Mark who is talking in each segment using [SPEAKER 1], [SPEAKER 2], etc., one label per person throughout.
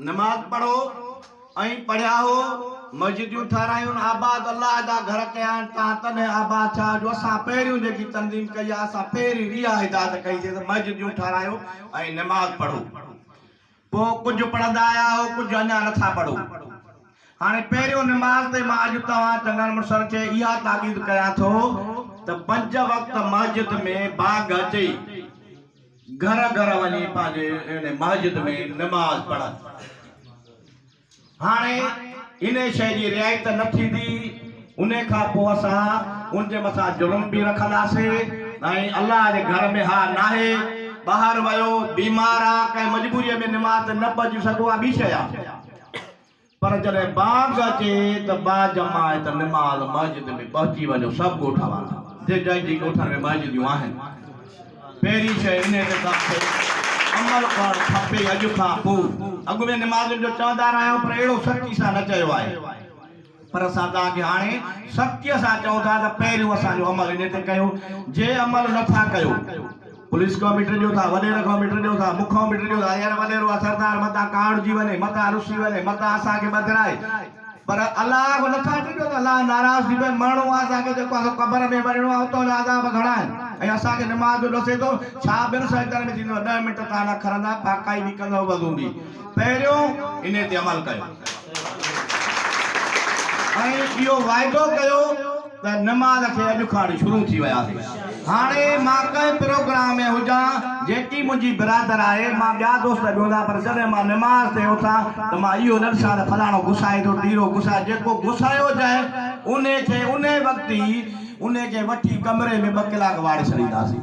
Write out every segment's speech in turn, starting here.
[SPEAKER 1] نماز پڙهو ۽ پڙهيا هو، مسجديون ٺهرايون، آباد الله جا گهر ڪيا آهن، تان تڏهن آباد ڇا جو اسان پهريون جيڪي تنظيم ڪئي آهي، اسان پهريون اها اجازت ڪئيسين ته مسجديون ٺهرايو ۽ نماز پڙهو. پوء ڪجهه پڙهندا آيا آهو، ڪجهه اڃا نه ٿا پڙهو. هاڻي پهريون نماز تي مان اڄ توهان چڱن مڙسن کي اها تاڪيد ڪيان ٿو ته پنج وقت مسجد ۾ باگ اچي، گهر گهر وڃي پنهنجي ان مسجد ۾ نماز پڙهن. هاڻي ان شيء جي رعايت ته نه ٿيندي، ان کان پوء اسان ان جي مٿان ظلم به رکنداسين ۽ الله جي گهر ۾ اها ناهي، ٻاهر ويو، بيمار آ، ڪنهن مجبوريء ۾ نماز تي نه پهچي سگهو، اها ٻي شيء آ. پر جڏهن بانگ اچي ته با جماعت نماز مسجد ۾ پهچي وڃو سڀ ڳوٺ وارا جي جن جي ڳوٺن ۾ مسجديون آهن پهرين شيء انهي تي سڀ کي عمل ڪرڻ کپي اڄ کان پو اڳ ۾ نمازين جو چوندا رهيا آهيون پر اهڙو سختي سان نه چيو آهي پر اسان توهان کي هاڻي سختي سان چئون ٿا ته پهريون اسان جو عمل انهي تي ڪيو جي عمل نه ٿا ڪيو پوليس کان مٽ ڏيو ٿا، وڏير کان مٽ ڏيو ٿا، مون کان مٽ ڏيو ٿا، يار وڏيرو آ سردار متان ڪاهڙجي وڃي، متان رسي وڃي، متان اسان کي ٻڌرائي، پر الله کان نٿا مٽ ڏيو ته الله ناراض ٿي پوي، مرڻو آ اسان کي جيڪو آ سو قبر ۾ مرڻو آ، اتان جا عذاب گهڻا آهن ۽ اسان کي نماز جو ڏسي ٿو، ڇا ٻين سجدن ۾ ٿيندو آ، ڏهه منٽ تان نه کرندا، پاڪائي به ڪندؤ وضو به. پهريون انهي تي عمل ڪيو ۽ اهو واعدو ڪيو ته نماز کي اڄ کان شروع ٿي وياسي هاڻي مان ڪنهن پروگرام ۾ هجان جيڪي منهنجي برادر آهي مان ٻيا دوست به هوندا پر جڏهن مان نماز تي اٿان ته مان اهو نه ڏسان ته فلاڻو گسائي ٿو ٽيرو گسائي جيڪو گسايو جنهن انهي کي انهي وقت ئي انهي کي وٺي ڪمري ۾ ٻه ڪلاڪ واڙي ڇڏينداسين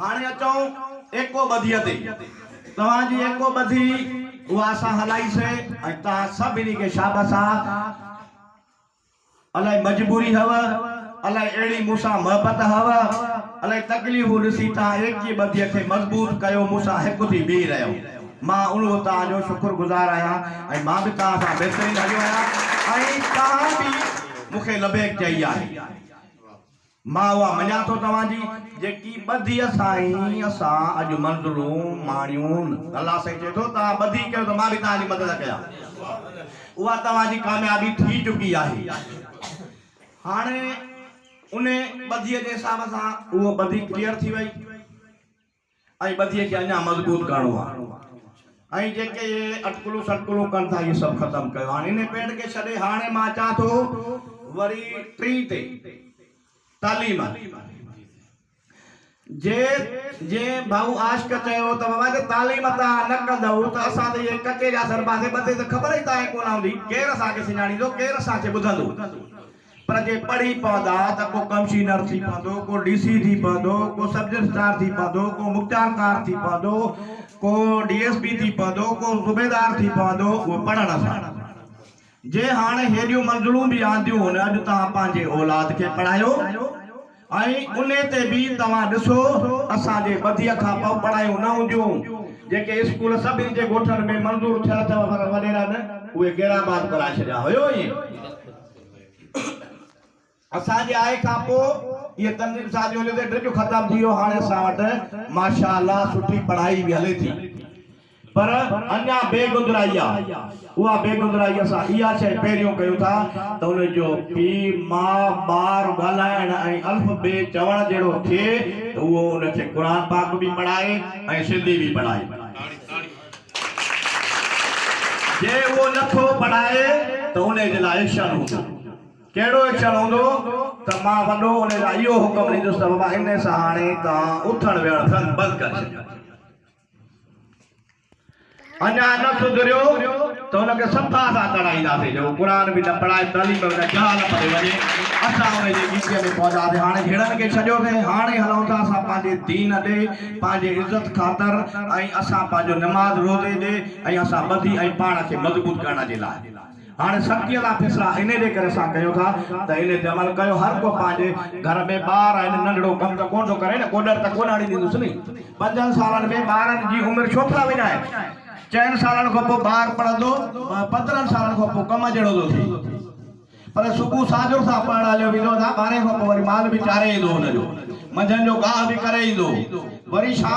[SPEAKER 1] هاڻي اچون ايڪو ٻڌيء تي. توهان جي ايڪو ٻڌي اها اسان هلائي سي ۽ توهان سڀني کي شابس آ. الائي مجبوري هئو، الائي اهڙي مون سان محبت هئو، الائي تڪليفون ڏسي توهان ايڪي ٻڌيء کي مضبوط ڪيو مون سان هڪ ٿي بيهي رهيو. مان ان به توهان جو شڪر گذار آهيان ۽ مان به توهان سان بهترين هليو آهيان ۽ توهان به مون کي لبيڪ چئي آهي. مان اها مڃان ٿو توهان جي جيڪي ٻڌي سائين اسان اڄ منزلون ماڻيون الله سائين چئي ٿو توهان ٻڌي ڪيو ته مان به توهان جي مدد ڪيان اها توهان جي ڪاميابي ٿي چڪي آهي هاڻي انهي ٻڌي جي حساب سان اهو ٻڌي ڪليئر ٿي وئي. ۽ ٻڌيء کي اڃا مضبوط ڪرڻو آهي ۽ جيڪي اهي اٽڪلون سٽڪلون ڪن ٿا اهي سڀ ختم ڪيو هاڻي انهي پيڊ کي ڇڏي هاڻي مان اچان ٿو وري ٽي تي تعليم جي جي ڀائو عاشق چيو ته بابا جي تعليم تان نه ڪندئو ته اسان ته اهي ڪچي جا سرباسي ٻڌي ته خبر ئي تائين ڪونه هوندي ڪير اسان کي سڃاڻيندو ڪير اسان کي ٻڌندو پر جي پڙهي پوندا ته ڪو ڪمشينر ٿي پوندو، ڪو ڊي سي ٿي پوندو، ڪو سب رجسٽرار ٿي پوندو، ڪو مختيار ڪار ٿي پوندو، ڪو ڊي ايس پي ٿي پوندو، ڪو صوبيدار ٿي پوندو، اهو پڙهڻ سان. جي هاڻي هيڏيون منزلون به آنديون هن اڄ توهان پنهنجي اولاد کي پڙهايو. ۽ انهي تي به توهان ڏسو اسان جي ٻڌيء کان پوء پڙهايون نه هونديون، جيڪي اسڪول سڀني جي ڳوٺن ۾ منظور ٿيل اٿيو پر وڏيرن اهي ڪهڙا آباد ڪرائي ڇڏيا هيو ۽. اسان جي آئي کان پوء اهي تنظيم سازي هونديون تي ڊڄ ختم ٿي ويو هاڻي اسان وٽ ماشاء الله سٺي پڙهائي به هلي ٿي. پر اڃا بي گدرائي آ. اها بي گدرائي اسان اها شيء پهريون ڪيون ٿا ته ان جو پي، ماء، ٻار ڳالهائڻ ۽ الف، بي چوڻ جهڙو ٿئي ته اهو ان کي قرآن پاڪ به پڙهائي ۽ سنڌي به پڙهائي. جي اهو نه ٿو پڙهائي ته ان جي لاء ايڪشن هوندو. ڪهڙو ايڪشن هوندو ته مان وڏو ان لاء اهو حڪم ڏيندس ته بابا ان سان هاڻي توهان اٿڻ ويهڻ سنگ بند ڪري ڇڏيو. اڃا نه سڌريو ته ان کي صفا سان تڙائينداسين جو قرآن به نه پڙهائي تعليم به نه جهال پري وڃي اسان ان جي ڳچيء ۾ پونداسين هاڻي جهيڙن کي ڇڏيوسين هاڻي هلون ٿا اسان پنهنجي دين ڏي پنهنجي عزت خاطر ۽ اسان پنهنجو نماز روزي ڏي ۽ اسان ٻڌي ۽ پاڻ کي مضبوط ڪرڻ جي لاء هاڻي سختيء سان فيصلا انهيء جي ڪري اسان ڪيون ٿا ته انهيء تي عمل ڪيو. هر ڪو پنهنجي گهر ۾ ٻار آهن، ننڍڙو ڪم ته ڪونه ٿو ڪري نه، ڪوڏر ته ڪونه هڻي ڏيندس ني. پنجن سالن ۾ ٻارن جي عمر ڇو ٿا وڃائين؟ چئن سالن کان پوء ٻار پڙهندو، پندرهن سالن کان پوء ڪم جهڙو ٿو ٿئي. پر صبح ساجهر سان پڙهڻ هليو ويندو هتان، ٻارهين کان پوء وري مال به چاري ايندو هن جو، منجهند جو گاهه به ڪري ايندو، وري شام.